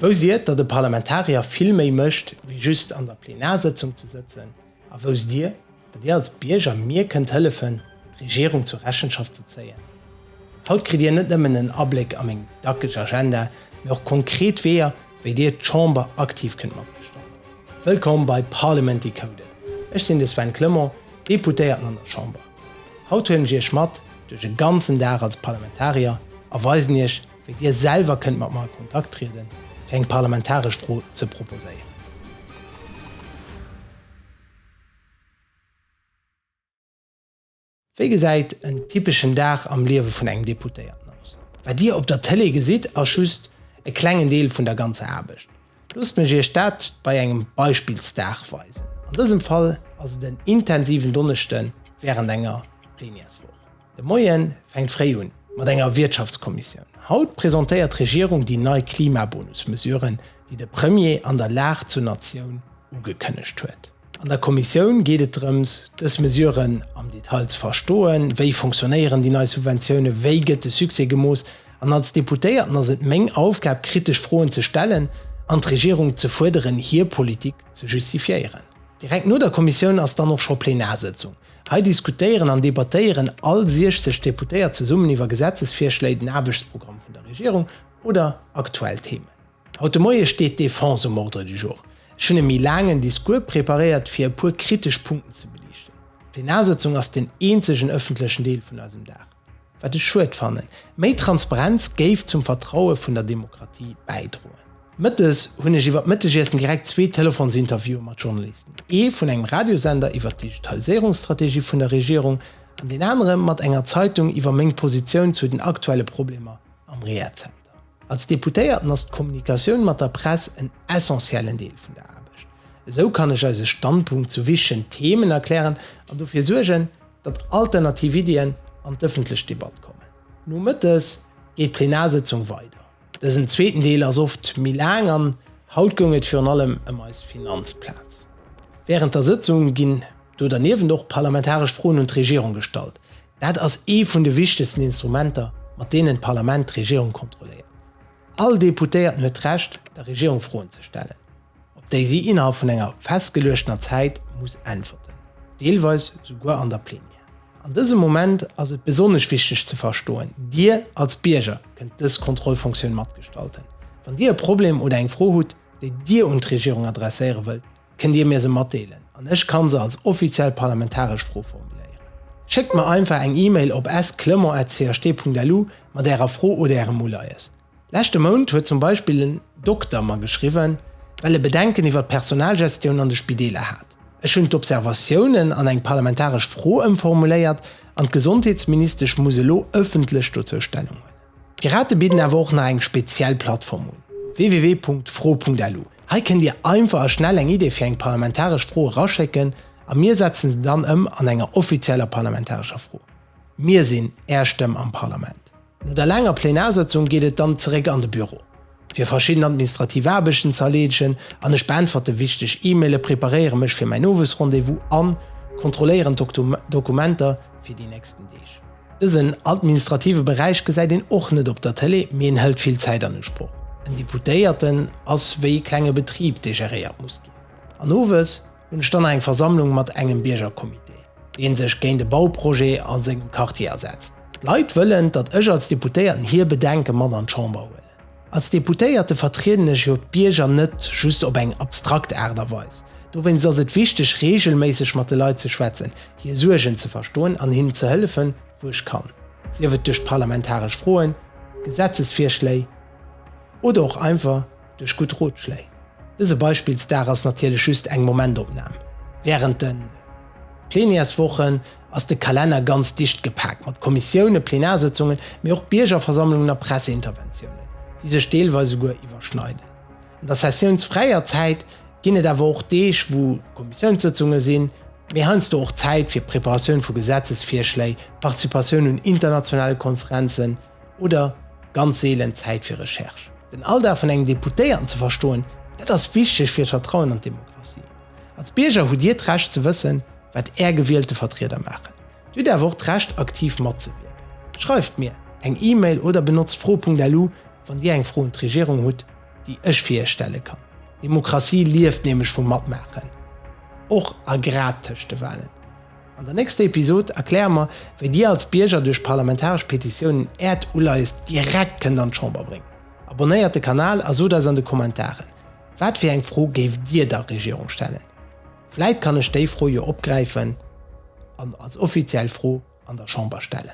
Wou siet der de Parlamentarier vill méi mécht wéi just an der Plenarsëtzung ze sëtzen a wou sitt dir, datt dir als Bierger mir kënnt hëllefen d'Regierung zur Rechenschaft ze zéien? Haut kritt dir net nëmmen en Abléck a meng dackeg Agenda, mee och konkret Weeër wéi dir d'Chamber aktiv kënnt matgestallten. Wëllkomm bei Parliament Decoded, ech sinn de Sven Clement, Deputéierten an der Chamber. Haut huelen ech iech mat duerch e ganzen Dag als Parlamentarier a weisen iech, Wéi Dir selwer kënnt mat mer a Kontakt trieden, fir eng parlamentaresch Fro ze proposéieren. Wéi gesäit en typeschen Dag am Liewe vun engem Deputéierten aus? Wat Dir op der Tëlee gesitt, ass just e klengen Deel vun der ganzer Aarbecht. Loosst mech Iech dat bei engem Beispillsdag weisen. An dësem Fall ass et en intensiven Donneschde wärend enger Plenièreswoch. De Moie fänkt fréi un mat enger Wirtschaftskommissioun. Haut presentéiert d'Regierung déi nei Klimabonus-Mesuren, déi de Premier an der Lag zur Natioun ugekënnegt huet. An der Kommissioun geet et drëms, dës Mesuren am Detail ze verstoen. Wéi fonctionnéieren déi nei Subventiounen? Wéi gëtt de Succès gemooss? An als Deputéierten ass et meng Aufgab, kritesch Froen ze stellen an d'Regierung ze fuerderen, hir Politik ze justifiéieren. Direkt no der Kommissioun ass dann och scho Plenarsëtzung. Hei diskutéieren an debattéieren all 60 Deputéiert zesummen iwwer Gesetzesvirschléi, den Aarbechtsprogramm vun der Regierung oder aktuell Themen. Haut de Moie steet d'Defense um Ordre du jour. Ech hunn e méi laangen Discours preparéiert, fir e puer kritesch Punkten ze beliichten. D'Plenarsitzung ass den eenzegen ëffentlechen Deel vun eisem Dag. Wat ech schued fannen. Méi Transparenz géif zum Vertraue vun der Demokratie bäidroen. Mëttes hunn ech iwwer d'Mëttegiessen direkt zwee Telefonsinterviewe mat Journalisten, ee vun engem Radiosender iwwer d'Digitaliséierungsstrategie vun der Regierung an deen anere mat enger Zeitung iwwer meng Positioun zu den aktuelle Problemer am Rehazenter. Als Deputéierten ass d'Kommunikatioun mat der Press en essentiellen Deel vun der Aarbecht. Esou kann ech eise Standpunkt zu wichtegen Themen erklären an dofir suergen, datt alternativ Iddien an d'ëffentlech Debatt kommen. Nomëttes geet d'Plenarsétzung weider. Dësen zweeten Deel ass oft méi laang an haut goung et virun allem ëm eis Finanzplaz. Wärend der Sëtzung ginn do derniewent och parlamentaresch Froen un d'Regierung gestallt. Dat ass ee vun de wichtegsten Instrumenter, mat deenen d'Parlament d'Regierung kontrolléiert. All Deputéierten huet d'Recht, der Regierung Froen ze stellen. op déi si innerhalb vun enger festgeluechtener Zäit muss äntwerten, deelweis souguer an der Plenière. An dësem Moment ass et besonnesch wichteg ze verstoen, Dir als Bierger kënnt dës Kontrollfunktioun matgestalten. Wann Dir e Problem oder eng Fro hutt, déi Dir un d'Regierung adresséiere wëllt, kënnt Dir mir se matdeelen an ech kann se als offiziell parlamentaresch Fro formuléieren. Schéckt mer einfach eng E-Mail op s-clement@cht.lu mat Ärer Fro oder Ärem Uleies. Leschte Mount huet zum Beispill en Dokter mer geschriwwen, well e Bedenken iwwert d'Personalgestioun an de Spideeler hat. Ech hunn d'Observatiounen an eng parlamentaresch Fro ëmformuléiert an d'Gesondheetsministesch muss elo ëffentlech dozou Stellung huelen. D'Pirate bidden awer och nach eng speziell Plattform un, www.fro.lu. Hei kënnt Dir einfach a schnell eng Idee fir eng parlamentaresch Fro eraschécken a mir setzen se dann ëm an enger offizieller parlamentarescher Fro. Mir sinn Är Stëmm am Parlament. No der laanger Plenarsëtzung geet et dann zeréck an de Büro, fir verschidden administrativ Aarbechten ze erleedegen an ech beäntwerte wichteg E-Maile, preparéiere mech fir mäin Owesrendez-vous a kontrolléieren d'Dokumenter fir déi nächsten Deeg. Dësen administrative Beräich gesäit een och net op der Tëlee, mee en hëlt vill Zäit an Usproch. En Deputéierten ass wéi e klenge Betrib, dee geréiert muss ginn an owes, Hunn ech dann eng Versammlung mat engem Biergercomité, dee sech géint e Bauprojet a sengem Quartier asetzt. D'Leit wëllen, datt ech als Deputéierten hir Bedenke mat an d'Chamber huelen. Als Deputéierte vertrieden ech jo d'Bierger net just op eng abstrakt Aart a Weis. Dowéinst ass et wichteg, reegelméisseg mat de Leit ze schwätzen, hir Suergen ze verstoen an hinnen ze hëllefen, wou ech kann, sief et duerch parlamentaresch Froen, Gesetzesvirschléi oder och einfach duerch gutt Rotschléi. Dëse Beispillsdag ass natierlech just eng Momentopnam. Wärend de Plenièreswochen ass de Kalenner ganz dicht gepaakt mat Kommissiounen, Plenarsëtzungen, mee och Biergerversammlungen a Presseinterventiounen, déi sech deelweis souguer iwwerschneiden. An der sessiounsfräier Zäit ginn et awer och Deeg, wou Kommissiounssëtzunge sinn, mee heiansdo och Zäit fir d'Preparatioun vu Gesetzesvirschléi, d'Participatioun un internationale Konferenzen, oder ganz seelen Zäit fir Recherche. Den Alldag vun engem Deputéierten ze verstoen, dat ass wichteg fir d'Vertrauen an d'Demokratie. Als Bierger hutt Dir d'Recht ze wëssen, wat Är gewielte Vertrieder maachen. Dir hutt awer och d'Recht, aktiv matzewierken. Schreift mir eng E-Mail oder benotzt fro.lu, wann Dir eng Fro un d'Regierung hutt, déi ech fir Iech stelle kann. Demokratie lieft nämlech vum Matmaachen, och a grad tëscht de Wahlen. An der nächster Episod erkläre mer, wéi Dir als Bierger duerch parlamentaresch Petitiounen Äert Uleies direkt kënnt an d'Chamber bréngen. Abonnéiert de Kanal a sot eis an de Kommentaren, wat fir eng Fro géift Dir der Regierung stellen? Vläit kann ech déi Fro jo opgräifen an als offiziell Fro an der Chamber stellen.